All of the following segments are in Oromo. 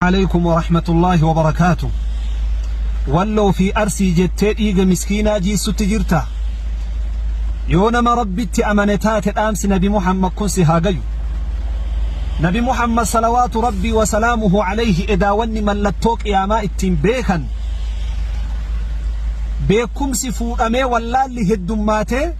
Aleykum warahmatullahi wabarakatuh walloo fi arsii jettee dhiiga miskiinaa jiissutti jirtaa yoo nama rabbitti amane taate dhaamsi nabi muhammad kun si haa gayu nabi muhammad salawaatu rabbii wasalaamuhu alayhi edaa wanni mallattoo qiyaamaa ittiin beekan beekumsi fuudhamee wallaalli heddummaatee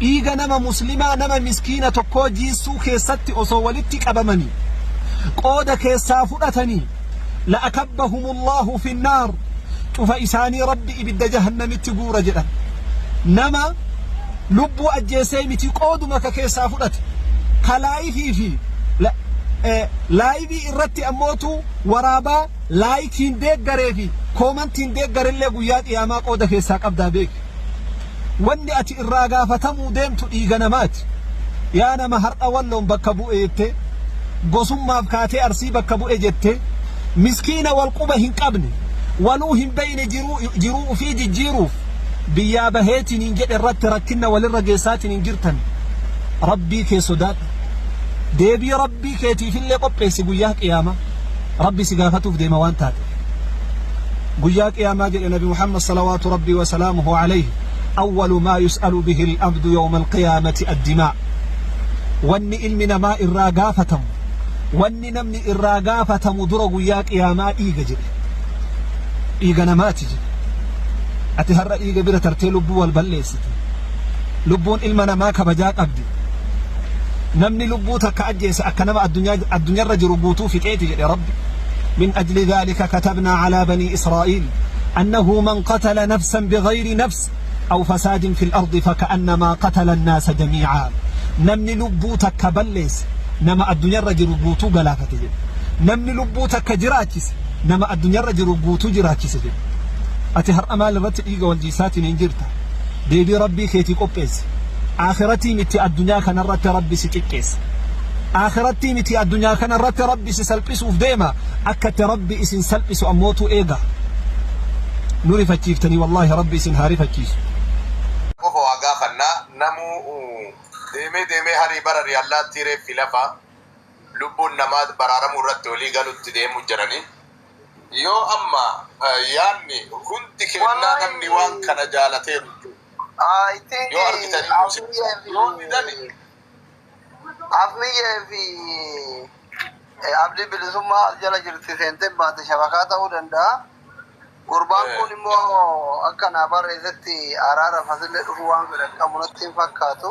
Dhiiga nama muslimaa nama miskiina tokkoo jiissuu keessatti osoo walitti qabamanii qooda keessaa fudhatanii la'akabbahumullahu finnaar cufa isaanii rabbi ibidda jahannamitti guura jedhan nama lubbuu ajjeessee miti qooduma ka keessaa fudhate ka laayifii fi la- eh, laayivii irratti ammootu waraabaa laayikiin deeggaree fi koomantiin deeggarillee guyyaa qiyaamaa qooda keessaa qabdaa beeki Wanni ati irraa gaafatamuu deemtu dhiiga namaati. Yaa nama har'a Walloon bakka bu'e jettee, gosummaaf kaatee Arsii bakka bu'e jettee, miskiina wal quba hin qabne, waluu hin beeyne jiruu ufii jijjiiruuf biyyaa baheetiniin jedhe irratti rakkinna walirra geessaatiniin jirtan Rabbii kee sodaadhu. Deebii Rabbii keetiifillee qopheessi guyyaa qiyaamaa. Rabbi si gaafatuuf deema waan taateef. guyyaa qiyaamaa jedhe nabi muhammad salawaatu rabbii wasalaamuhu alayhi awwalu maa yus'alu bihi alabdu yawma alqiyaamati addimaa wanni ilmi namaa irraa gaafatamu wanni namni irraa gaafatamu dura guyyaa qiyaamaa dhiiga jedhe dhiiga namaati jedhe ati har'a dhiiga bira tartee lubbuu wal balleessa Lubbuun ilma namaa kabajaa qabdi. Namni lubbuu takka ajjeese akka nama addunyaarra jiru guutuu fixeeti jedhe Rabbi. Min ajli dhaalika katabnaa calaa banii Israa'iil annahu man qatala nafsan bighayri nafs aw fasaadin fil ardi faka'annamaa qatala annaasa jamiicaa. Namni lubbuu takka balleesse nama addunyaarra jiru guutuu galaafate jedhe. Namni lubbuu takka jiraachise nama addunyaarra jiru guutuu jiraachise jedhe. Ati har'a maal irratti dhiiga wal jiisaatiin hin jirta? deebii rabbii keetii qopheessi aakhirattii mitti addunyaa kanarratti rabbi si xiqqeessa aakhirattii mitti addunyaa kanarratti rabbi si salphisuuf deema akka itti rabbi isin salphisu ammootu eega nu rifachiiftanii wallaahi rabbi isin haa rifachiisu qofa waa gaafanna namuu deemee deemee harii barari allaattii reeffi lafa lubbuun namaa baraaramuu irratti olii galutti deemu jiranii. Yoo amma yaanni hundi kennaa namni waan kana jaalateeru jechuudha. Yoo argitan iyyuu si yoo didani. Afmiyyee fi abdii bilisummaa as jala jirti seentee baate shabakaa ta'uu danda'a. Gurbaan kun immoo akka naa barreessetti araara fasillee dhufuu waan fedhan qabu natti hin fakkaatu.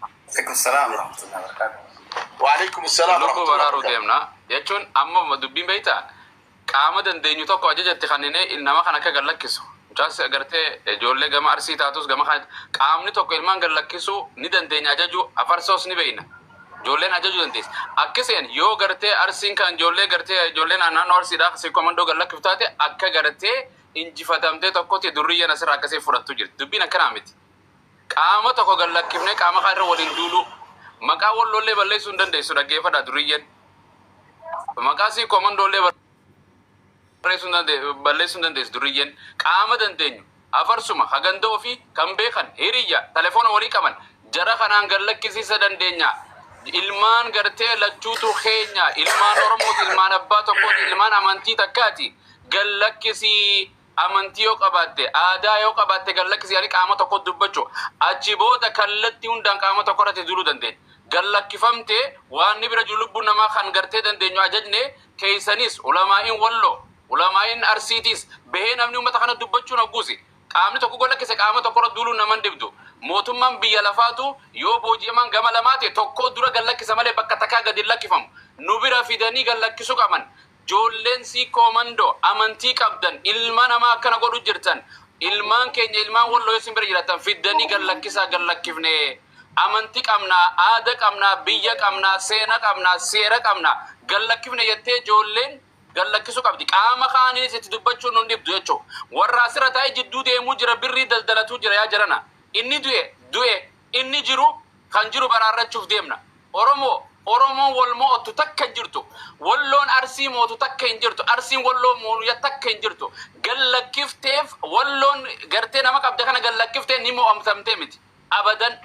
Waalaikum salaam warahmatullahi wabarakatuh. Waalaikum salaam Lubbuu warahmatullahi baraaruu wabarakatuh. deemna jechuun amma dubbiin beektaa qaama dandeenyu tokko ajajatti kanninee nama kan akka gad lakkisu mucaas agartee ijoollee gama arsii taatus gama kan qaamni tokko ilmaan gad lakkisuu ni dandeenya ajajuu afarsoos ni beekna ijoolleen ajajuu dandeessi akkaseen yoo gartee arsiin kan ijoollee gartee ijoollee naannoo arsiidhaa si komandoo gad lakkiftu taate akka gartee injifatamtee tokkotti durriyyeen asirraa akkasee fudhattu jirti dubbiin akkanaa miti. Qaama tokko gad lakkifnee qaama kaan irra waliin duuluu. Maqaa walloo illee balleessuu hin dandeessu dhaggeeffadhaa duriyyeen. Maqaa sii komandoo illee barreessuu hin dande- balleessuu hin dandeessu duriyyeen. Qaama dandeenyu afarsuma ka ganda ofii kan beekan hiriyya telefoona walii qaban jara kanaan gad lakkisiisa dandeenya. Ilmaan gartee lachuutu keenya ilmaan Oromooti ilmaan abbaa tokkooti ilmaan amantii takkaati gad lakkisii. Amantii yoo qabaatte, aadaa yoo qabaatte gad lakkisi jedhanii qaama tokkotti dubbachuu. Achi booda kallattii hundaan qaama tokko irratti duuluu dandeenya. Gad lakkifamtee waanni bira jiru lubbuun namaa kan gartee dandeenyu ajajne keessanis ulamaa'iin Walloo, ulamaa'iin Arsiitiis bahee namni uummata kana dubbachuun hogguusi qaamni tokko gad lakkise qaama tokko irra duuluun nama hin dhibdu. Mootummaan biyya lafaatu yoo booji'amaan gama lamaa ta'e tokkoo dura gad lakkisa malee bakka takkaa gad hin lakkifamu. Nu bira fidanii gad lakkisuu qaban. Joolleen siikkoo mando amantii qabdan ilma namaa akkana godhu jirtan ilmaan keenya ilmaan walloo yoo isin bira jiratan fiddanii gad lakkisaa gad lakkifne amanti qabna aada qabna biyya qabna seena qabna seera qabna gad lakkifne jettee joolleen gad lakkisu qabdi qaama kaaniis itti dubbachuun nun dhibdu jechu warra asirra taa'ee jidduu deemuu jira birrii daldalatuu jira yaa jarana inni du'e du'e Inni jiru kan jiru baraarrachuuf deemna. Oromoo! Oromoon wal mo'ottu takka hin jirtu. Walloon Arsii mootu takka hin jirtu. Arsiin Walloo moonuya takka hin jirtu. Gad lakkifteef Walloon gartee nama qabde kana gad lakkiftee ni mo'amtamtee miti. Abadan!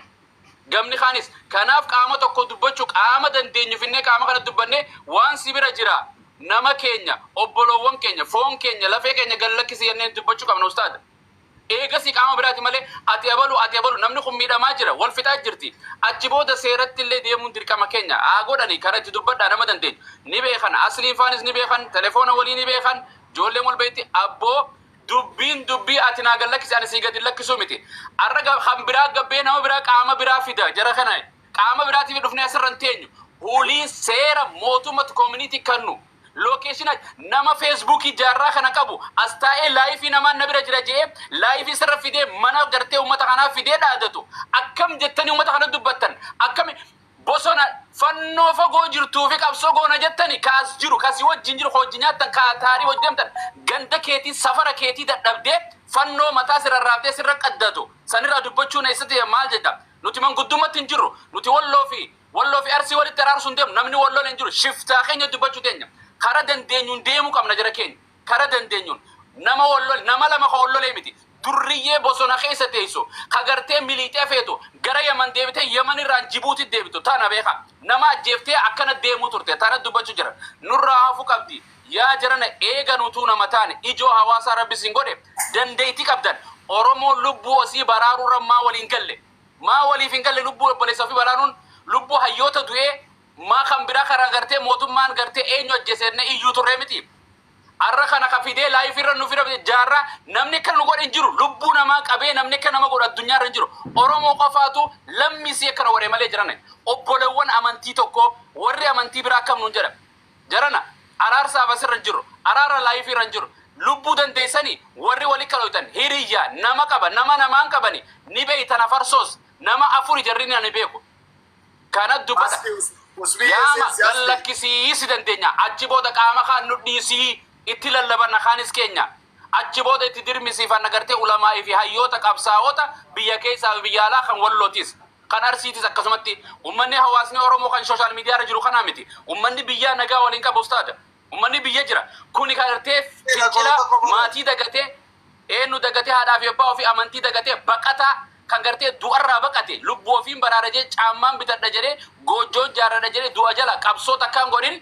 Gamni kaanis. Kanaaf qaama tokko dubbachuu qaama dandeenyu finnee qaama kana dubbannee waan si bira jira nama keenya, obboloowwan keenya, foon keenya, lafee keenya gad lakkisi jennee dubbachuu qabna ustaad. Eegasii qaama biraati malee ati abalu, ati abalu, namni kun miidhamaa jira, wal fixaa jirti, achi booda seeratti illee deemuun dirqama keenya, haa godhani, kana itti dubbadhaa nama dandeenyu ni beekan, Asliin faanis ni beekan, telefoona walii ni beekan, ijoolleen wal beekti, abboo dubbiin dubbii ati naa gad lakkisi ani sii gad hin lakkisuu miti, har'a ga kan biraa gabbee nama biraa qaama biraa fida jara kana qaama biraatiif dhufnee asirra hin teenyu, wly seera mootummatu community kannu Location ach nama Facebook jaarraa kana qabu as taa'ee live namaan na bira jira je'ee live isarra fidee mana gartee ummata kanaa fidee dhaadatu akkam jettanii ummata kana dubbattan akkami bosona fannoo fagoo jirtuu fi qabsoo goona jettani ka as jiru ka si wajjin jiru ka wajjin nyaattan ka taarii wajjin deemtan ganda keetii safara keetii dadhabdee fannoo mataa si rarraabdee sirra qaddatu sanirraa dubbachuun eessatti maal jetta nuti manguddummatti hin jirru nuti walloo fi Walloo fi Arsii walitti araarsu hin deemnu. Namni wal lole hin jiru. Shiftaa keenya dubbachuu teenya. Kara dandeenyuun deemuu qabna jara keenya. Kara dandeenyuun. Nama wal lole, nama lama ka wal lolee miti. Durriyyee bosona keessa teessu, ka gartee miliixee feetu, gara Yaman deebitee Yaman irraan Jibuuti deebitu. Tana beeka. Nama ajjeeftee akkana deemuu turte. Tana dubbachuu jira. Nurraa hafu qabdi. Yaa jarana eega nutuu nama taane, ijoo hawaasaa Rabbi isin godhe, dandeeyti qabdan, Oromoon lubbuu osii baraaruu irra maa wal hin galle? Maa waliif hin galle lubbuu obboleessa ofii waraanun lubbuu hayyoota du'ee maa kan biraa kana gartee mootummaan gartee eenyu ajjeese jennee iyyuu turree miti. Arra kana ka fidee live irra nu fira jaarra namni akka nu godhe hin jiru lubbuu namaa qabee namni akka nama godhu addunyaa irra hin jiru Oromoo qofaatu lammii isii akkana godhe malee jirane obbolewwan amantii tokkoo warri amantii biraa akkam nuun jedha Jarana araarsaaf asirra hin jirru. Araara live irra hin jirru. Lubbuu dandeessanii warri wali kalooytan hiriyya nama qaba nama namaan qabani ni beeytan afarsoos nama afuri jarrini ani beeku kana dubbadha. Aski us usbii Yaama eesee si aski. gallakkisii si dandeenya achi booda qaama kaan nu dhiisii itti lallabanna kaanis keenya Achi booda itti dirmisiifanna agartee ulamaa'ii fi hayyoota qabsaa'ota biyya keessaa fi biyya alaa kan Wallootis kan Arsiitis akkasumatti ummanni hawaasni Oromoo kan social media irra jiru kanaa miti ummanni biyyaa nagaa waliin qaba ustaada ummanni biyya jira kuni kan agartee fincila maatii dagatee eenyu dagatee haadhaa fi abbaa ofii amantii dagatee baqataa kan gartee du'arraa baqate lubbuu ofiin baraara jee caammaan bitadha jedhee goojjoo ijaarradha jedhee du'a jala qabsoo takkaan godhin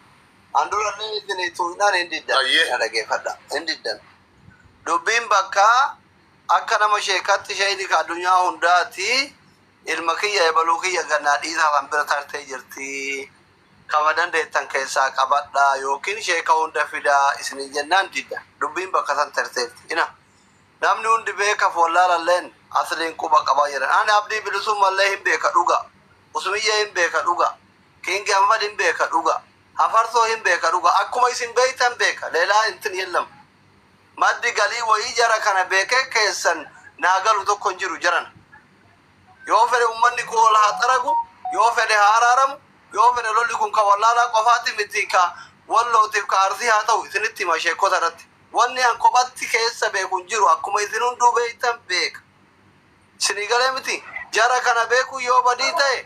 An durallee isinii tuuynaan hin diddan. Na dhageeffadha. Hin diddan. Dubbiin bakkaa akka nama sheekatti sheeyni ka addunyaa hundaati ilma kiyya ebaluu kiyya gannaa dhiisaa san bira tartee jirti. Kama dandeettan keessaa qabadha yookiin sheeka hunda fidaa isiniin jennaan diddan. Dubbiin bakka san tarteerti. Ina. Namni hundi beekaf wallaalalleen asliin quba qaba jedhan. Ani Abdii Bilisuumallee hin beeka dhugaa. Usmiyyee hin beeka dhugaa. King Ahmad hin beeka dhuga. Hafarsoo hin beeka dhuga akkuma isin beeytan beeka lelaa intin yellam maddi galii wayii jara kana beeke keessan naa galu tokko hin jiru jarana yoo fedhe ummanni kun wal haa xaragu yoo fedhe haa araaramu yoo fedhe lolli kun ka wallaalaa qofaati miti ka wallootiif ka arsii haa ta'u isinitti hima sheekota irratti wanni an kophatti keessa beeku hin jiru akkuma isin hunduu beeytan beeka isinii galee miti jara kana beekuu yoo badii ta'e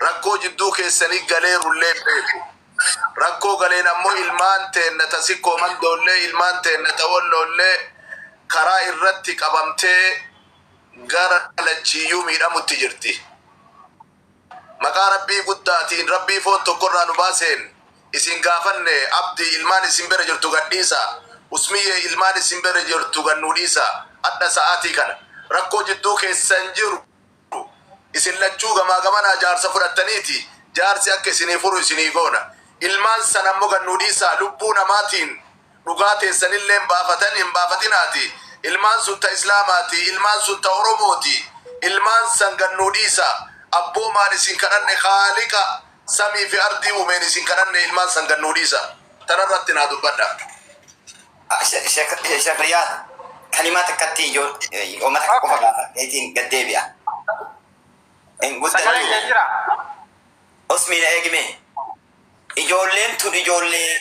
Rakkoo jidduu keessanii galeerullee beeku. Rakkoo galeen ammoo ilmaan teenna ta Sikkoo Mandoollee, ilmaan teenna ta Wolloollee karaa irratti qabamtee gara lachiiyyuu miidhamutti jirti. Maqaa Rabbii guddaatiin, Rabbii foon tokko irraa nu baaseen isin gaafanne, Abdii, ilmaan isin bira jirtu gad dhiisaa. Usmiyyee, ilmaan isin bira jirtu gad nuu dhiisaa. Adha sa'aatii kana. Rakkoo jidduu keessan jiru. jiru. Isin lachuu gamaa gamanaa jaarsa fudhattaniiti, jaarsi akka isinii furu isinii goona. Ilmaan san ammo gad nuu dhiisaa, lubbuu namaatiin dhugaa teessanilleen baafatan hin baafatinaati. Ilmaan sun ta Islaamaati, ilmaan sun ta Oromooti. Ilmaan san gad nuu dhiisaa. Abboomaan isin kadhanne, Khaaliqa samii fi ardii uumeen isin kadhanne, ilmaan san gad nuu dhiisaa. Tanarratti naa dubbadhaa. Sheekh Riyaad kalimaa xiqqatti yoo uummata kan qofa gaafateetiin gad deebi'a. Hin guddannu. Sagalee kee jira. Osmiina eegime. Ijoolleen tun ijoollee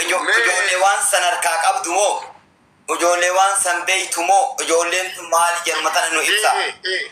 ijo- Mee- ijoollee waan san harkaa qabdu moo ijoollee waan san beeytu moo ijoolleen tun maali jedhuma tana nu ibsa. Ee, ee, ee.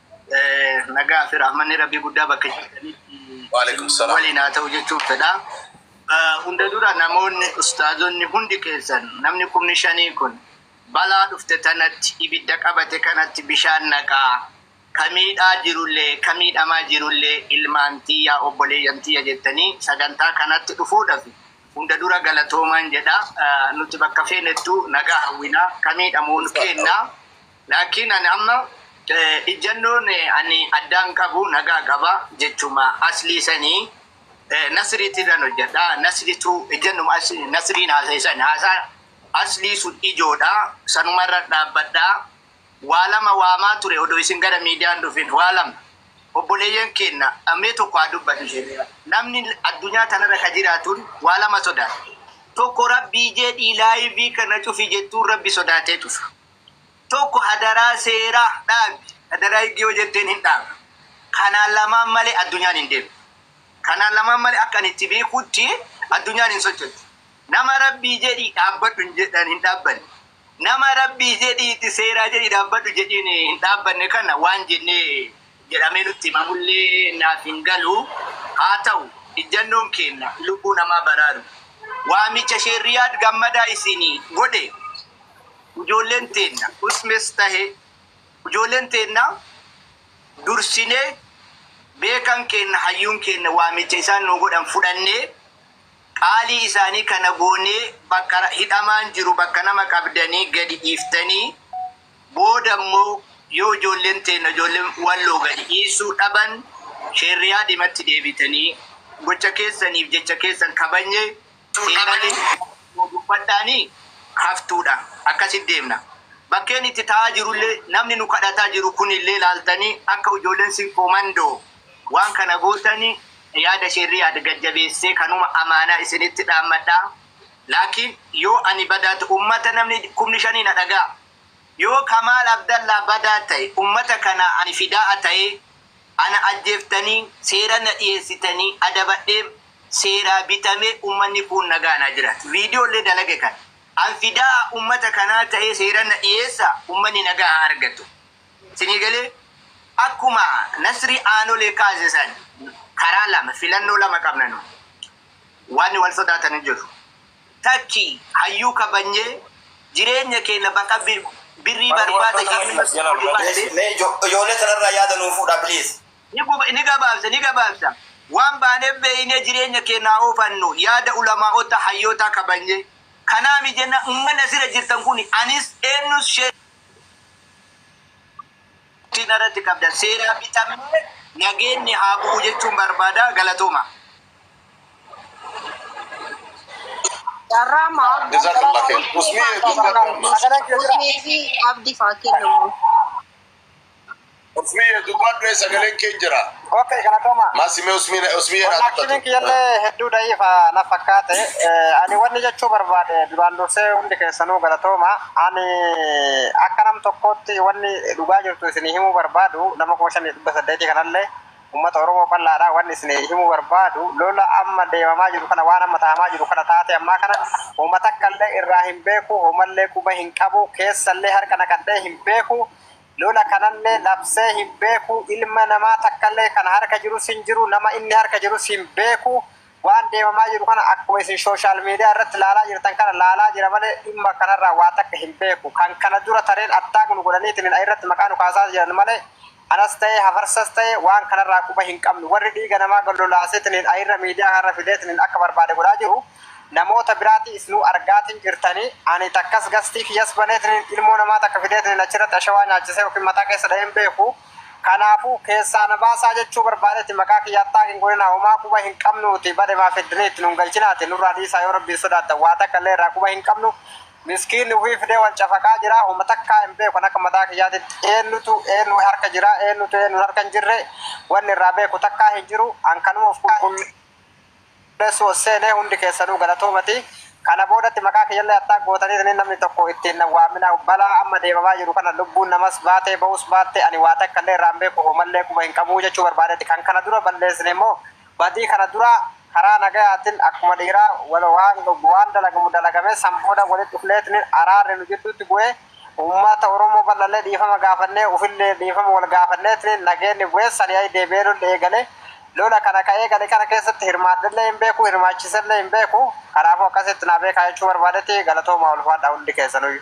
Nagaa fi rahmanni rabbii guddaa bakka jirtanitti waliin haa ta'u jechuun fedha. Hunda dura namoonni ustaazonni hundi keessan namni kumni shanii kun balaa dhufte tanatti ibidda qabate kanatti bishaan naqaa kamiidhaa jirullee kamiidhamaa jirullee ilmaan tiyyaa obboleeyyan tiyya jettanii sagantaa kanatti dhufuudhaaf hunda dura galatoomaan jedha nuti bakka feenettuu nagaa hawwinaa kamiidhamuun keennaa. Laakiin ani amma ijjannoon ani addaan qabu nagaa qaba jechuma aslii sanii nasriitirran hojjadha nasritu ijjannuma nasriin haasaye san haasaa aslii sun ijoodha sanumarra dhaabbadha waa lama waamaa ture odoo isin gara miidiyaa hin dhufin waa lama obboleeyyan keenna mee tokko haa dubbadhu jedhe namni addunyaa tanarra ka jiraatun waa lama sodaata tokko rabbii jedhii laayivii kana cufi jettuun rabbi sodaatee cufa Tokko hadaraa seeraa dhaabi. Hadaraa higgi yoo jetteen hin dhaabdu. Kanaan lamaan malee addunyaan hin deemtu. Kanaan lamaan malee akka ani itti beekutti addunyaan hin sochotu. Nama rabbii jedhii dhaabbadhu hin jedhan hin dhaabbanne. Nama rabbii jedhii itti seeraa jedhii dhaabbadhu jedhiin hin dhaabbanne kana waan jennee jedhamee nutti himamullee naaf hin galu. Haa ta'u, ijjannoon keenna lubbuu namaa baraaru. Waamicha Sheeh Riyaad Gammadaa isiinii godhe ijoolleen teenna Usmes tahe ijoolleen teenna dursinee beekan keenna hayyuun keenna waamicha isaan nuu godhan fudhannee qaalii isaanii kana goonee bakka hidhamaan jiru bakka nama qabdanii gadi dhiiftanii Booda immoo yoo ijoolleen teenna ijoolleen Walloo gadi dhiisuu dhaban Sheerriyaa Diimatti deebitanii gocha keessaniif jecha keessan kabajne siin malee nuu dubbadhaanii haftuudha. Akkasitti deemna. Bakkeen itti taa'aa jiru illee namni nu kadhataa jiru kun illee ilaaltanii akka ijoolleen Sinqoo Mandoo waan kana gootanii yaada Sheerriyaad gad jabeessee kanuma amaanaa isinitti dhaammadha. Laakiin yoo ani badaa ta'e ummata namni kumni shanii na dhaga'a. Yoo Kamaal Abdallaa badaa ta'e ummata kanaa ani fidaa'a ta'ee ana ajjeeftanii seera na dhiyeessitanii adabadheem seeraa bitamee ummanni kuun nagaan haa jiraatu. Video illee dalage kana. An fidaa'a ummata kanaa ta'ee seera na dhiyeessa ummani nagaa haa argatu. Sinii galee? Akkuma Nasrii Aanolee kaase san karaa lama filannoo lama qabna nu. Wanni wal sodaatan hin jiru. Takki hayyuu kabanyee jireenya keenna baqa birrii barbaada jennee ol hubanne. Mee ijoolee tanarraa yaada nuu fuudhaa please. Ni gabaabsa ni gabaabsa. Waan baanee beeynee jireenya keenna haa oofannu yaada ulamaa'otta hayyootaa kabanyee. Kanaami jennaan ummanni asirra jirtan kuni anis eennus sheekh Abdulqaadir Jiilaa Wanti narratti qabdan seeraa bitamnee nageenni haa bu'u jechuun barbaada. Galatoomaa. Jazakallah khair. Usmii hedduu galatoomi. Usmii fi abdi faa kennamu. Usmii hedduu baadhee sagaleen kee jira. Okay, galatoomaa. Maasimee usmii usmii Wallaahi hedduu kiiliin kiyyallee hedduu da'iifa na fakkaate. Eh, Ani wanni jechuu barbaade duraan dursee hundi keessanuu galatooma. Ani akka nam tokkootti wanni dhugaa jirtu isinii himuu barbaadu nama kuma shanii dhibba saddeetii kanallee Ummata Oromoo bal'aadha. Wanni isin himuu barbaadu lola amma deemamaa jiru kana waan amma tahamaa jiru kana taatee ammaa kana homa takkallee irraa hin beeku homallee quba hin qabu keessallee harka naqadhee hin beeku lola kanallee labsee hin beeku ilma namaa takkallee kan harka jirus hin jiru nama inni harka jirus hin beeku waan deemamaa jiru kana akkuma isin shooshaal miidiyaa irratti laalaa jirtan kana laalaa jira malee dhimma kanarraa waa takka hin beeku kan kana dura tareen attaak nu godhaniitiin irratti maqaa nu kaasaa jiran malee Anas ta'e hafarsas ta'e waan kanarraa quba hin qabnu. Warri dhiiga namaa gad lolaaseetiniin airra miidiyaa kanarra fideetiniin akka barbaade godhaa jiru namoota biraati isnuu argaatiin jirtani. Ani takkas gastii kiyyas baneetiniin ilmoo namaa takka fideetiniin achirratti ashawaa nyaachisee yookiin mataa keessa dha'ee hin beeku. Kanaafuu keessaa na baasaa jechuu barbaadeeti maqaa kiyya attack hin godhinaa homaa quba hin qabnuuti bade maa fiddanii itti nun galchinaati nurraa dhiisaa yoo rabbiin sodaattan waa takka illee irraa quba hin qabnu. Miskiin ufii fidee wal cafaqaa jira homa takkaa hin beeku an akka mataa kiyyaatitti eennutu eennu harka jira eennutu eennu harka hin jirre wanni irraa beeku takkaa hin jiru an kanuma uf qulqulleessuu ol seene hundi keessanuu galatoomati kana boodatti maqaa kiyyallee attack gootaniitiniin namni tokko itti hin nawwaaminaa balaa amma deemamaa jiru kana lubbuun namas baatee ba'uus baatte ani waa takkallee irraa hin beeku homallee quba hin qabu jechuu barbaadeeti kan kana dura balleessine immoo badii kana dura karaa nagayaatin akkuma dhiiraa wal waan dhugnu waan dalagamu dalagamee san booda walitti dhufneetiniin araarri nu jidduutti bu'ee ummata Oromoo bal'allee dhiifama gaafannee ufillee dhiifama wal gaafanneetiniin nageenni bu'ee sani'ai deebi'ee lolli eegale lola kana ka eegale kana keessatti hirmaadhellee hin beeku hirmaachiisellee hin beeku kanaafuu akkasitti naa beekaa jechuu barbaadetii galatoomaa ulfaadhaa hundi keessanuyyu.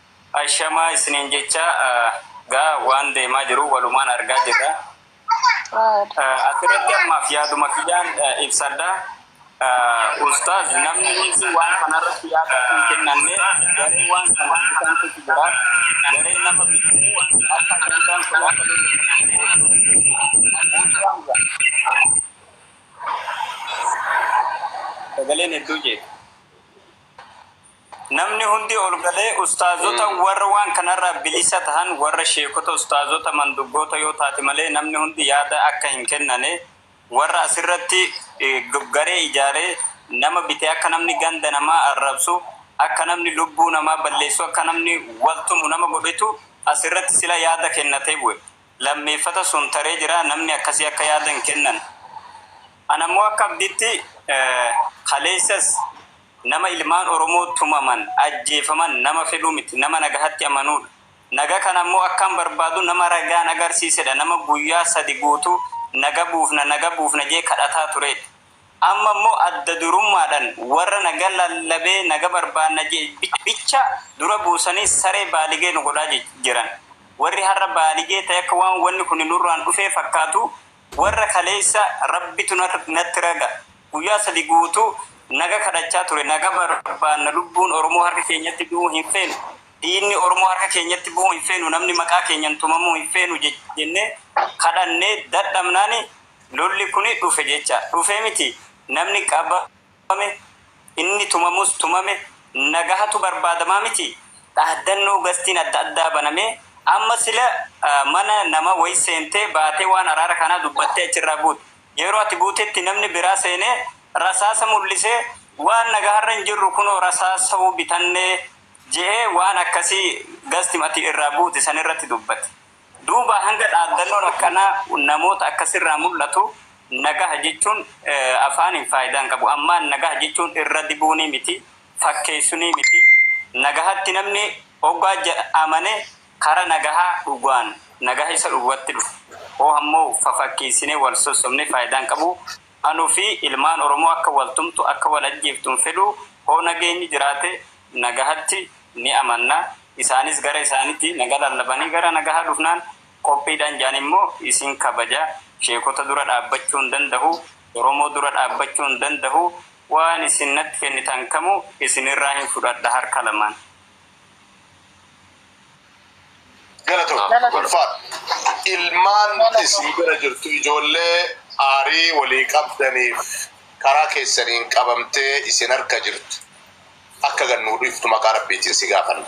Ashamaa isiniin jechaa gaa waan deemaa jiru walumaan argaa jirra. Asirratti ammaaf yaaduma kiyyaan ibsadha. Ustaaz namni hundi waan kanarratti yaada hin kennanne garee waan kanaan bitantu jira. Garee nama bitee akka ajandaan kun akka sagaleen hedduu jeeqe. Namni hundi ol galee ustaazota warra waan kanarraa bilisa tahan warra sheekota ustaazota manduggoota yoo taate malee namni hundi yaada akka hin kennane warra asirratti garee ijaaree nama bite akka namni ganda namaa arrabsu akka namni lubbuu namaa balleessu akka namni wal tumu nama godhetu asirratti sila yaada kennatee bu'e lammeeffata sun taree jira namni akkasii akka yaada hin kennan anammoo akka abdiitti kaleessas Nama ilmaan Oromoo tumaman, ajjeefaman nama fedhu miti, nama nagahatti amanuudha. Naga kana ammoo akkan barbaadu nama ragaan agarsiisedha, nama guyyaa sadi guutuu naga buufna, naga buufna jedhee kadhataa tureedha. Amma ammoo adda durummaadhan warra naga lallabee naga barbaadna jedhe bicha dura buusanii saree baaligee nu godhaa jiran. Warri har'a baaligee ta'e akka waan wanni kuni nurraan dhufee fakkaatu warra kaleessa Rabbitu natti raga Guyyaa sadii guutuu naga kadhachaa ture. Naga barbaanna. Lubbuun Oromoo harka keenyatti du'uu hin feenu. Dhiigni Oromoo harka keenyatti bu'uu hin feenu. Namni maqaa keenyan tumamuu hin feenu jennee kadhannee dadhabnaan lolli kun dhufe jecha. Dhufee miti namni qabame, inni tumamus tumame nagahatu barbaadamaa miti? Dhaaddannoo gastiin adda addaa banamee amma sila mana nama wayi seentee baatee waan araara kanaa dubbattee achirraa buute. Yeroo ati buutetti namni biraa seenee rasaasa mul'isee waan nagaharra hin jirru kunoo rasaasau bitanne je'ee waan akkasii gasti ati irraa buute sanirratti dubbate. Duuba hanga dhaaddannoon akkanaa namoota akkasirraa mul'atu nagaha jechuun afaaniin faaydaa hin qabu. Ammaan nagaha jechuun irra dibuunii miti, fakkeessunii miti. Nagahatti namni hoggaa amane Kara nagaha dhuguan nagaha isa dhuguatti dhufa. Hoo hammo fafakkeessinee wal sossobnee faayidaa hin qabu. Anu fi ilmaan Oromoo akka wal tumtu, akka wal ajjeeftu hin fedhu. Hoo nageenyi jiraate nagahatti ni amanna. Isaanis gara isaaniitii naga lallabanii gara nagaha dhufnaan qophiidha hin jaan immoo isin kabaja. Sheekota dura dhaabbachuu hin dandahu. Oromoo dura dhaabbachuu hin dandahu. Waan isin natti kennitan kamuu isinirraa hin fudhadha harka lamaan. Galatoom Galatoom. ulfaadha. Ilmaan Galatoom. isin bira jirtu ijoollee aarii walii qabdaniif karaa keessaniin qabamtee isin harka jirtu akka gad nuu dhiiftu maqaa rabbiitiin si gaafanna.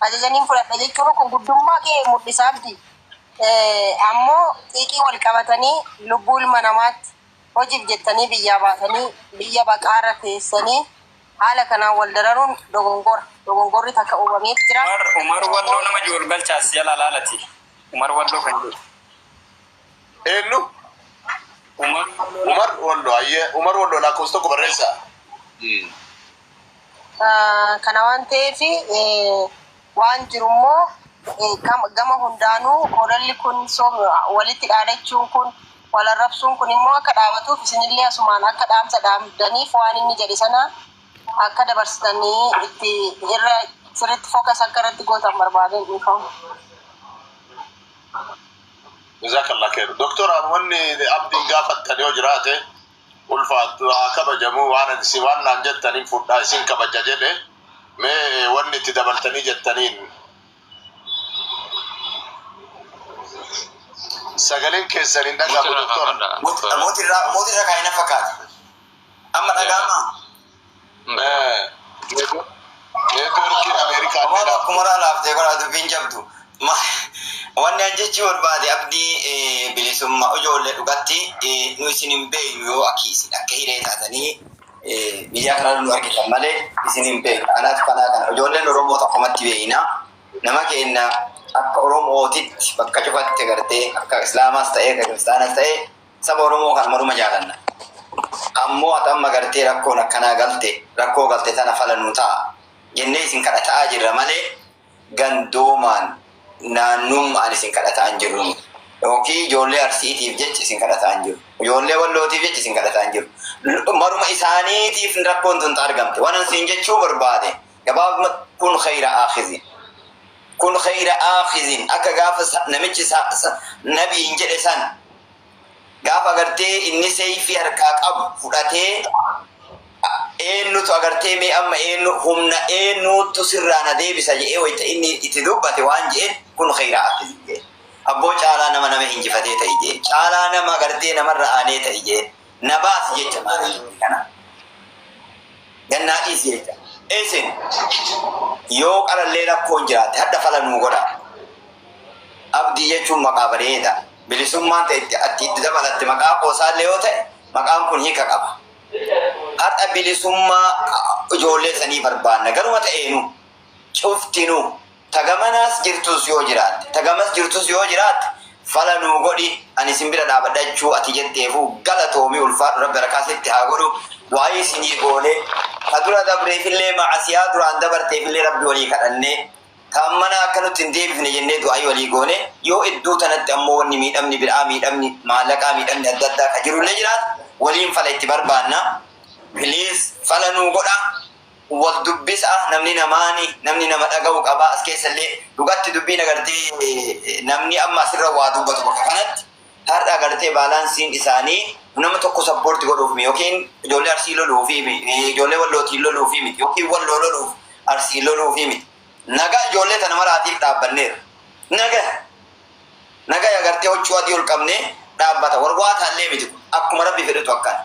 ajaja niin fudhadha jechuun kun guddummaa kee mul'isaa miti. Ammoo xiiqii wal qabatanii lubbuu ilma namaatti hojiif jettanii biyyaa baatanii biyya baqaarra teessanii haala kanaan wal dararuun dogongora. Dogongorri takka uumameeti jira. Umar Walloo nama jiru wal galcha as jala laalati Umar Walloo kan jedhu. Eenyu? Umar Wollo. Ayyee Umar Wollo lakkoofsa tokko barreessaa. Kana waan ta'eef waan jiru immoo gama hundaanuu ololli kun walitti dhaadachuun kun wal arrabsuun kun immoo akka dhaabatuuf isinillee asumaan akka dhaamsa dhaamdaniif waan inni jedhe sana akka dabarsitanii itti irra sirriitti fookas akka irratti gootan barbaadeen dhiifama. Jazakallah kheer Doktar an wanni abdiin gaafattan yoo jiraate ulfaattu haa kabajamu waan an isin waan naan jettan hin fudha isin kabaja jedhe mee wanni itti dabaltanii jettaniin sagaleen keessan hin dhagahamu Doktar. Moti irraa moti irra kaayina fakkaata. Amma dhaga'amaa? Networkiin America Amma adda akkuma irraa laaftee godhaa dubbiin jabdu. Ma- Wanni an jechuu barbaade abdii eh, bilisummaa ijoollee dhugatti eh, nu isin hin beeynu yoo akki isin akka hiree taatanii eh, biyyaa kana nu argitan malee isin hin beeynu. Kanaaf kanaa kana ijoolleen Oromoo tokkumatti beeyna. Nama keenya akka Oromootitti bakka cufatti gartee akka Islaamaas ta'ee akka Kiristaanas ta'ee Saba Oromoo kan maruma jaalanna. Ammoo ati amma gartee rakkoon akkanaa galte, rakkoo galte tana fala nuu ta'a jennee isin kadhata'aa jirra malee gandoomaan, naannumma'aan isin kadhata'aa hin jirru nuti. Yookiin ijoollee Arsiitiif jecha isin kadhata'aa hin jirru. Ijoollee Wallootiif jecha isin kadhata'aa hin jirru. Maruma isaaniitiif rakkoon tun ta argamte. Wanan siin jechuu barbaade. Gabaabumatti kun khayra aakhizin. Kun khayra aakhizin akka gaafa sa- namichi sa- sa- nabiin jedhe san gaafa agartee inni seeyfii harkaa qabu fudhatee a- eennutu agartee mee amma eennu humna eennuutu sirraa na deebisa jedhee wayta inni itti dubbate waan jedheen kun khayra aakhizin jedhe. Abboo caalaa nama nama injifatee ta'i jedheen. Caalaa nama agartee namarra aanee ta'i jedheen. Na baasi jecha maarayyooti kana gad naa dhiisi jecha. Isin yoo qarallee rakkoon jiraatte hadha fala nuu godha. Abdii jechuun maqaa bareeda. Bilisummaan ta'e itti atti itti dabalatte maqaa qoosaallee yoo ta'e maqaan kun hiika qaba. Hadha bilisummaa ijoollee sanii barbaanna garuma ta'eenu cuftinuu. Ta gamanaas jirtuus yoo jiraatte, ta gamas jirtuus yoo jiraatte fala nuu godhi ani isin bira dhaabadha jechuu ati jetteefuu galatoomi ulfaadhu rabbi arakaa sitti haa godhu waayii isinii goonee ka dura dabreefillee ma'asiyaa duraan dabarteefillee rabbi walii kadhannee ta ammanaa akka nutti hin deebifne jennee du'aayii walii goonee yoo idduu tanatti ammoo wanni miidhamni bid'aa miidhamni maallaqaa miidhamni adda addaa ka jirullee jiraate waliin fala itti barbaanna please fala nuu godha wal dubbisa namni namaani namni nama dhagahu qaba as keessa illee dhugatti dubbiin agartee namni amma asirra waa dubbatu bakka kanatti har'a agartee baalaansiin isaanii nama tokko sappoorti godhuuf mi yookiin ijoollee arsii loluu fi ijoollee wallootiin loluu fi miti yookiin walloo loluuf arsii loluu fi miti nagaa ijoollee tana maraatiif dhaabbanneera naga naga agartee huccuu adii ol qabnee dhaabbata warwaa taallee miti akkuma rabbi fedhutu akkana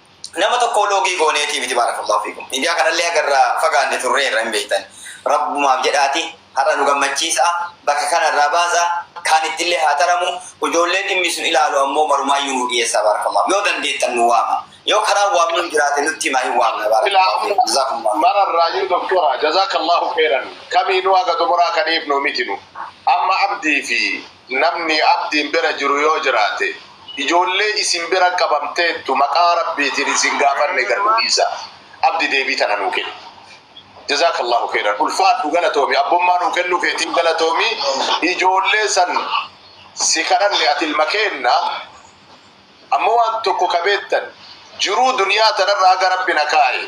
Nama tokkoo loogii gooneetii miti baarakallahu fiikum. Miidiyaa kanallee agarra fagaanne turreerra hin beeytan. Rabbumaaf jedhaati har'a nu gammachiisa'a bakka kana irraa baasa kaan ittillee haa taramu ujoollee dhimmi sun ilaalu ammoo marumaayyuu nuu dhiyeessaa baarakallahu. Yoo dandeettan nu waama. Yoo karaan waamnuun jiraate nutti himaa hin waamna baarakallahu Silaa fiikum. Jazaakumullaahu khayran. mara irraayyuu doktora jazaakallaahu khayran kamiinuu haga xumuraa ka dhiifnu miti nu. Amma abdii fi Namni abdiin bira jiru yoo jiraate, ijoollee isin bira qabamteettu maqaa Rabbiitiin isin gaafanne gad nu dhiisaa. Abdi deebii tana nuu kenni. Jazaakallaahu keyran. Ulfaadhu galatoomi. Abbummaa nuu kennuu keetiif galatoomi. Ijoollee san si kadhanne ati ilma keenna. Ammoo waan tokko ka beettan, jiruu duniyaa tanarra haga Rabbi na kaaye,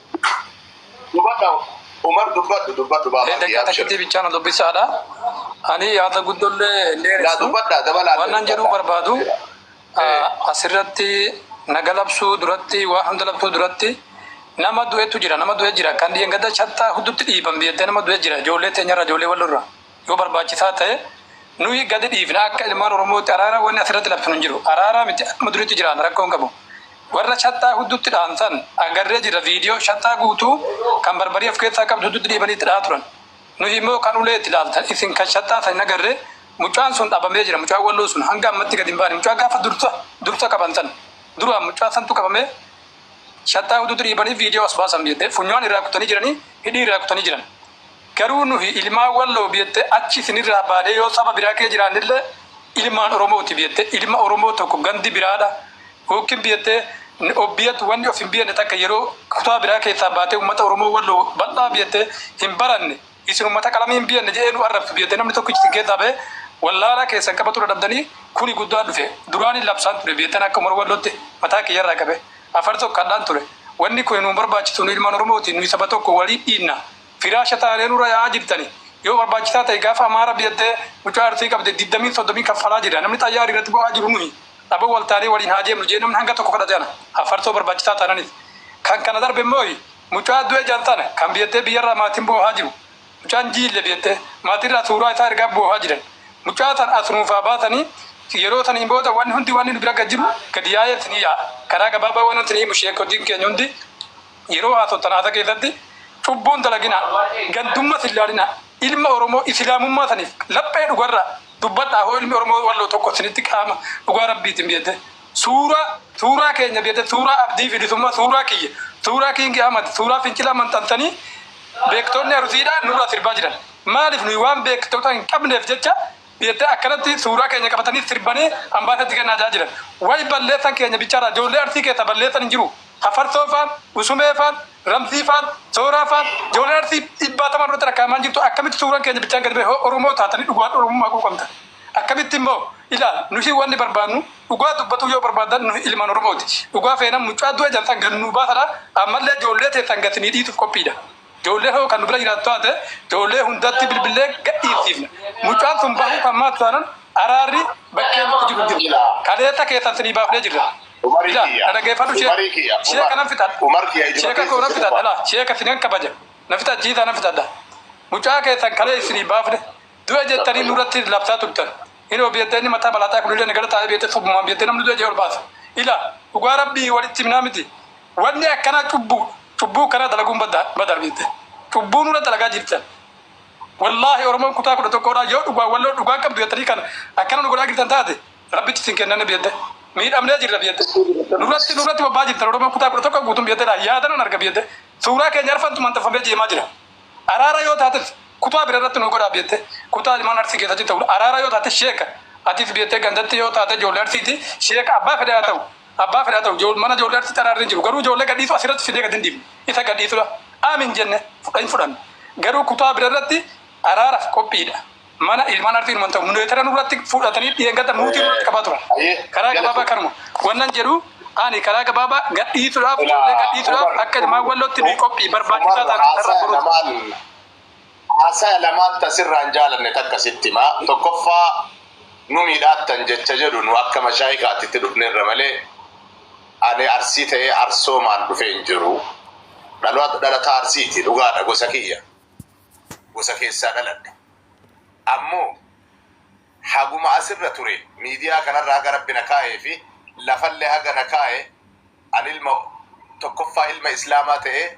Dubadha Umar dubbadhu dubbadhu baaba. Daqiiqaa takkittii bichaa na dubbisaadha. Ani yaada guddollee hin dheeressu. Waanan jedhuu barbaadu asirratti naga labsuu duratti waan hunda labsuu duratti nama du'etu jira nama du'e jira kan dhiyengadda shattaa huddutti dhiiban biyyattii nama du'e jira ijoollee teenyarra ijoollee wallorra. Yoo barbaachisaa ta'e nuyi gadi dhiifna akka ilmaan oromootti araara wanni asirratti labsinu hin jiru araara miti akkuma duriitti jiraanna rakkoo hin qabu warra shaxxaa hudduutti dhahan san agarree jirra viidiyoo shaxxaa guutuu kan barbarii of keessaa qabdu hudduutti dhiibanii itti dhahaa turan nuyi immoo kan ulee itti ilaaltan isin kan shaxxaa san hin agarree mucaan sun dhabamee jira mucaan walloo sun hanga ammatti gadi hin baane mucaa gaafa dursa dursa qaban san duraan mucaa santu qabamee shaxxaa hudduutti dhiibanii viidiyoo as baasan jettee funyaan irraa kutanii jiranii hidhii irraa kutanii jiran Garuu nuhi ilmaan walloo biyyette achi isinirraa baanee yoo saba biraa kee jiraannille ilmaan oromooti biyyette ilma oromoo tokko gandi biraadha ykn biyyette ni obbiyatu wanni of hin biyanne takka yeroo kutaa biraa keessaa baatee ummata oromoo walloo bal'aa biyyette hin baranne isin ummata qalamii hin biyanne jedhee nu arrabsu biyyette namni tokkichi isin keessaa ba'ee wallaalaa keessan qabatu dadhabdanii kuni guddaa dhufe duraan hin labsaan ture biyyetten akka umar wallootti mataa kiyyarraa qabee afar tokkadhaan ture wanni kuni nu hin barbaachisu nu ilmaan oromooti nuhi saba tokko walii dhiinna Firaasha taanee nurra yaa'aa jirtani. Yoo barbaachisaa ta'e gaafa amaa rabbi jettee mucaa artii qabde digdamiin soddomiin kaffalaa jirra. Namni xayyaari irratti bo'aa jiru nuhi. Abo wal taanee waliin haa deemnu jee namni hanga tokko kadhate ana. Affarsoo barbaachisaa taananif. Kan kana darbe immoohi mucaa du'e jaan tana kan biyattee biyyarraa maatiin boohaa jiru. Mucaan jiille biyattee maatiirraa suuraa isaa ergaa boohaa jiran. Mucaa tan as nuuf haa baasanii yeroo saniin booda wanni hundi wanni nu bira gad jiru gadi yaa'ee isinii yaa'a. Karaa gabaabaa waan isinii himu sheekkotiin keenya hundi. Yeroo haasoftan haasaa keessatti cubbuun dalaginaa, gandummas hin laalinaa, ilma Oromoo Isilaamummaa saniif laphee dhugarraa dubbadhaa hoo ilmi Oromoo Walloo tokko isinitti qaama dhugaa Rabbiitiin bitatee suuraa suuraa keenya bitatee suuraa Abdii Bilisummaa suuraa kiyya suuraa King Ahmad suuraa Fincilaa manxansanii beektoonni Arusiidhaa nurraa sirbaa jiran maaliif nuyi waan beektoota hin qabneef jecha jettee akkanatti suuraa keenya qabatanii sirbanii ambaasatti kennaa jaa jiran. Way balleessan keenya bichaadha joollee Arsii keessa balleessan hin jiru. Hafarsoo faan, Usumee faan, Ramzii faan, Sooraa faan joolleen Arsii dhibbaatamaan nurratti lakkaa'amaa hin jirtu akkamitti suuran keenya bichaan gadi ba'e hoo Oromoo taatanii dhugumaan Oromummaa quuqamtan akkamitti immoo ilaal nuti wanni barbaannu dhugaa dubbatuu yoo barbaaddan nuti ilmaan Oromooti dhugaa feenan mucaa du'e jan san gad nuu baasadha ammallee joollee teessan gad sinii dhiisuuf qophiidha. Ijoollee hoo kan nu bira jiraattu taate ijoollee hundatti bilbillee gadhiifsiifna. Mucaan sun bahuu kan maatu taanan araarri bakkee nutti jiru hin jiru. Kaleessa keessan sinii baafnee jirra. Ilaa, na dhageeffadhu sheeka. Sheeka nan fixadha. Sheeka koo nan fixadha. Ilaa, sheeka sinan kabaja. Na fixachiisaa nan fixadha. Mucaa keessan kalee isinii baafne du'e jettanii nurratti labsaa turtan. Inoo biyyatti inni mataa malaaxaa kunillee nagara taa'ee biyyatti subumaan biyyatti namni du'e jee ol baasa. Ilaa, dhugaa Rabbii walitti himnaa miti. Wanni akkanaa cubbuudha. Cubbuu akkanaa dalaguun baddaadha. Badaadha jettee. Cubbuu nurra dalagaa jirtan. Wallaahi Oromoon kutaa 11 dhaa yoo dhugaan Walloo dhugaan qabdu jettanii kan akkana nu godhaa jirtan taate Rabbitti isin kennanne biyya jettee. Miidhamnee jirra biyya jettee. Nurratti nurratti bobbaa jirtan Oromoon kutaa 11 guutuun biyya jettee dhaa yaada nan arga biyya jettee. Suuraa keenya arfantu manxaffamee jeemaa jira. Araara yoo taates kutaa bira irratti nuu godhaa biyya jettee. Kutaa ilmaan Arsii keessa jirtan araara yoo taate sheeka atis biyya jettee gandatti yoo taate ijoollee Arsiiti sheeka abbaa fedhe haa ta'u. Abbaa fedhe haa ta'u, ijo, mana ijoollee artiitti araarri hin jiru. Garuu ijoollee gadhiisuu as irratti fidee gad hin dhiifnu. Isa gadhiisudha. Aam hin jenne. Fudha hin fudhannu. Garuu kutaa bira irratti araaraf qophiidha. Mana ilmaan artii numa hin ta'u. Muneetera nurratti fudhatanii dheengadda muutii nurratti qabaa turan. Hayyee. Karaa Galatoom. gabaabaa kanuma. Wannan jedhu ani karaa gabaabaa gadhiisudhaaf, ijoollee Ilaa gadhiisudhaaf Umar. akka ilmaan Wallootti nuyi qophii barbaachisaa Umar taanaan carraa haasaya boruuti. namaan Haasaya lamaan ta sirraa hin jaalanne takka sitti hima. Tokkoffaa nu miidhaattan jecha jedhu nu akka mashaayikaatitti dhufnerra malee ani Arsii ta'ee Arsoomaan dhufee hin jiru. Dhaloota dhalataa Arsiiti dhugaadha gosa kiyya. Gosa keessaa dhaladhe. Ammoo haguma asirra ture miidiyaa kanarra haga Rabbi na kaa'ee fi lafallee haga na kaa'e ani ilma tokkoffaa ilma Islaamaa ta'ee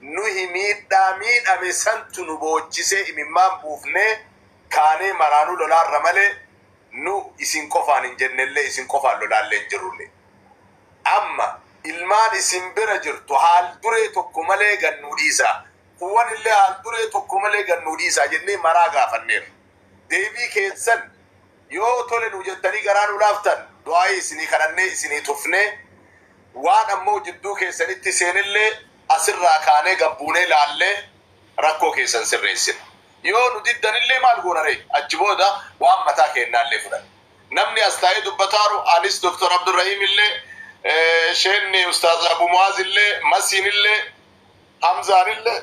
Nuyi miidhaa miidhame santu nu boochisee imimmaan buufnee kaanee maraanuu lolaarra malee nu isin qofaan hin jennellee isin qofaan lolaallee hin jirrullee. Amma ilmaan isin bira jirtu haal-duree tokko malee gad nuu dhiisaa, kuuwanillee haal-duree tokko malee gad nuu dhiisaa jennee maraa gaafanneerra. Deebii keessan yoo tole nuu jettanii garaa nuu laaftan du'aa'ii isinii kadhannee isinii tufnee waan ammoo jidduu keessanitti seenellee asirraa kaanee gad buunee laallee rakkoo keessan sirreessina. Yoo nu diddanillee maal goona ree? Achi booda waan mataa keennaallee fudhanna. Namni as taa'ee dubbataaru anis Dr. Abdurrahiimillee, Sheenni Ustaaz Abu Mu'aazillee, Masiinillee, Hamzaanillee,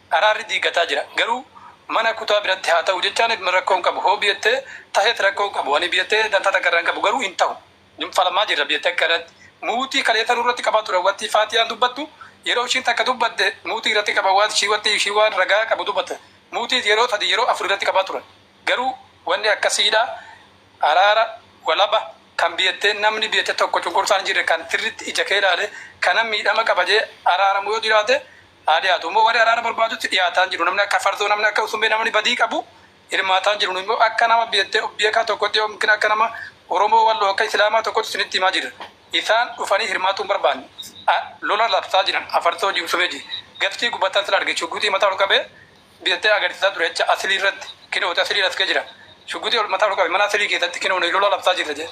Araarri diigataa jira garuu mana kutaa biratti haa tahu jecha ani rakkoo hin qabu hoo biyette tahet rakkoo hin qabu ani biyette dantaa takka irraa hin qabu garuu hin tahu nun falamaa jirra biyatti akka irratti muutii kaleessa nurratti qabaa turan wanti faatiyaan dubbattu yeroo ishiin takka dubbatte muutii irratti qaba waan ishii wanti ishii waan ragaa qabu dubbatte muutii yeroo sadii yeroo afur irratti qabaa turan garuu wanni akkasiidha araara walaba kan biyette namni biyette tokko cunqursaan hin jirre kan sirritti ija kee ilaalee kanan miidhama qaba jee araaramu yoo jiraate haa dhiyaatu immoo warri araara barbaadutti dhiyaataan jiru namni akka farzoo namni akka usumbee namni badii qabu hirmaataan jiru nu immoo akka nama beettee beekaa tokkotti yookiin akka nama oromoo walloo akka islaamaa tokkotti isinitti himaa jirra isaan dhufanii hirmaatuu hin barbaanne a lola labsaa jiran a farzoo ji usumee ji gaftii gubataan sila arge shuguxii mataa ol qabee beettee agarsiisaa ture jecha asilii irratti kinooti asilii laskee jira shuguxii ol mataa ol qabe mana asilii keessatti kinoo nuyi lola labsaa jirra jee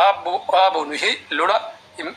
aabbo aabbo nuyi lola hin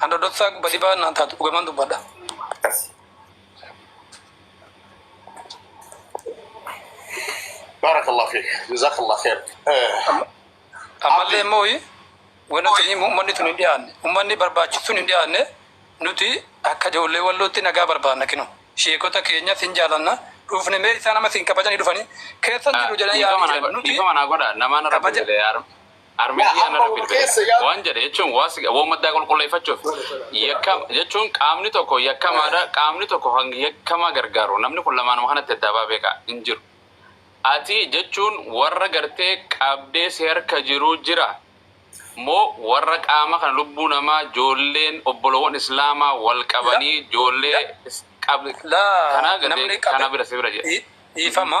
An dodotsaa basibaa naan taatu dhugaman dubbadha. Akkasi. Barakallah fiik. Jazakallah khair. Eh, Ammallee immoo wanti tuni uummanni tun hin dhiyaanne uummanni barbaachisu tun hin dhiyaanne nuti akka ijoollee wallootti nagaa barbaanna kinu sheekota keenya sin jaalanna dhuufne mee isaan amma sin kabajanii dhufanii keessan jiru jedhanii dhiifama yaa'anii naa jiran godha nuti dhiifama naa godha namaan irra kabaja- bu'e Armeen kiyya narra bilbile. Waan jedhe jechuun waan maddaa qulqulleeffachuuf yakka jechuun qaamni tokko yakkamaadha qaamni tokko kan yakkamaa gargaaru namni kun lamaanuma kanatti addaa baa beekaa hin jiru. Ati jechuun warra gartee qabdee si harka jiruu jira moo warra qaama kana lubbuu namaa joolleen obbolowwan islaamaa wal qabanii joollee kana bira si bira jedhe. Dhiifama.